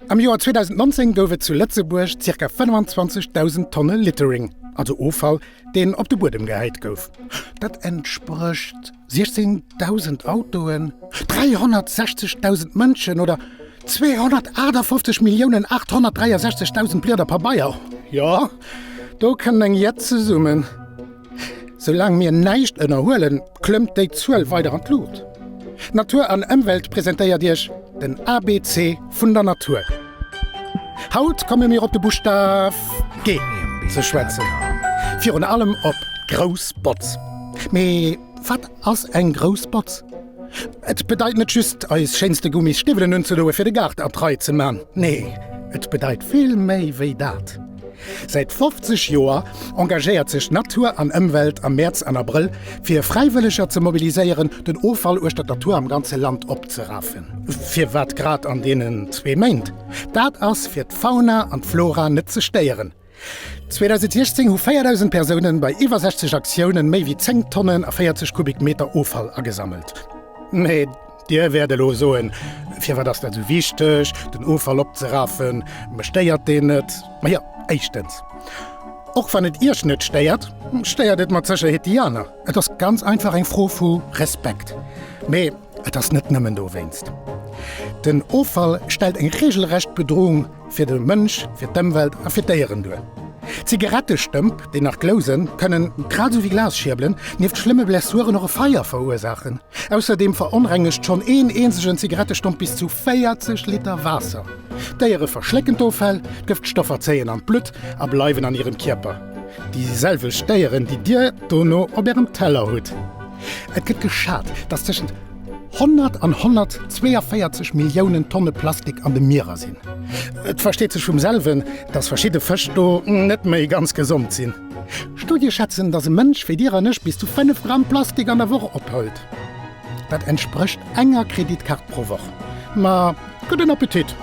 Am Joer 2019 gouf et zu Lëtzebuerg zirka 25.000 Tonne Littering, also Offall, deen op de Buedem gehäit gouf. Dat entsprécht 16.000 Autoen, 360.000 Mënschen oder 258.863.000 Blieder Pabeier. Jo, do kënnt eng Jett zesummen. Soulaang mir näischt ënnerhuelen, klëmmt déi Zuel weider an d'Luucht. Natur an Ëmwelt presentéiert Iech den ABC vun der Natur. Haut komme mir op de Buschtaf G ze schwätzen, virun allem op grouss Botz. Mee wat ass eng grouss Botz? Et bedeit net just, eis schéinste Gummis Stiwwelen unzedoe fir de Gaart a d'Rei ze man. Nee, et bedeit vill méi wéi dat. Säit 50 Joer engagéiert sech Natur an Ëmwelt am Mäerz an Abrëll, fir Fräiwëlleger ze mobiliséieren, den Offall uechter der Tour am ganze Land opzerafen. Firwat grad an deenen zwee Méint? Dat ass, fir d'Fauna an d'Flora net ze stéieren. 2016 hu 4.000 Persounen bei iwwer 60 Aktiounen méi wéi 10 Tonnen a 40 Kubikmeter Offall agesammelt. Mee Dir wäert elo soen, Firwat ass dat esou wichteg, den Offall opzerafen? Mech stéiert deen net. Ma jo, éischtens, och wann et Iech net stéiert, stéiert et mat Sécherheet déi aner. Et ass ganz einfach eng Fro vu Respekt. Mee Et ass net nëmmen dowéinst. Den Offall stellt eng reegelrecht Bedroung fir de Mënsch, fir d'Ëmwelt a fir d'Déieren duer. Zigarettestëmp, déi nach glousen, kënnen, grad esou wéi Glasschierbelen, nieft schlëmme Blessuren och e Feier verursaachen. Ausserdeem veronrengegt schonn een eenzegen Zigarettestomp bis zu 40 Liter Waasser. D'Déiere verschlécken d'Offäll, d'Gëftstoffer zéien an d'Blutt a bleiwen an hirem Kierper, déi selwecht Déieren, déi Dir dono op Ärem Teller hutt. Et gëtt geschat, datt tëschent 100 an 142 Milliounen Tonne Plastik an de Mierer sinn. Et versteet sech vum selwen, datt verschidde Fësch do net méi ganz gesond sinn. Studie schätzen, datt e Mënsch wéi Dir an ech bis zu 5 Gramm Plastik an der Woch opholt. Dat entsprécht enger Kreditkaart pro Woch. Ma Gudden Appetit!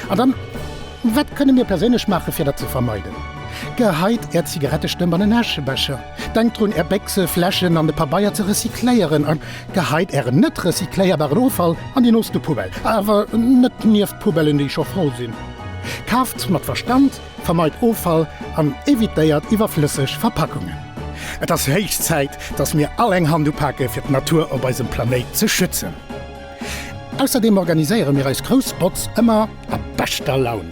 An dann, wat kënne mir perséinlech maachen, fir dat ze vermeiden? Geheit Är Zigarettestëmp an en Äschebecher, denkt drun, Är Béchse, Fläschen an de Pabeier ze recycléieren a geheit Ären net recycléierbaren Offall an déi nooste Poubelle, awer net nieft d'Poubellen, déi scho voll sinn. Kaaft mat Verstand, vermeit Offall an evitéiert iwwerflësseg Verpackungen. Et ass héich Zäit, dass mir all eng Hand upake fir d'Natur op eisem Planéit ze schützen. Ausserdeem organiséiere mir eis grouss Botz ëmmer a beschter Laun.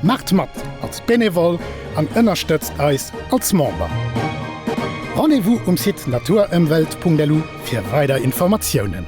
Maacht mat als Benevole an ënnerstëtzt eis als Member! Rendez-vous um Site naturëmwelt.lu fir weider Informatiounen.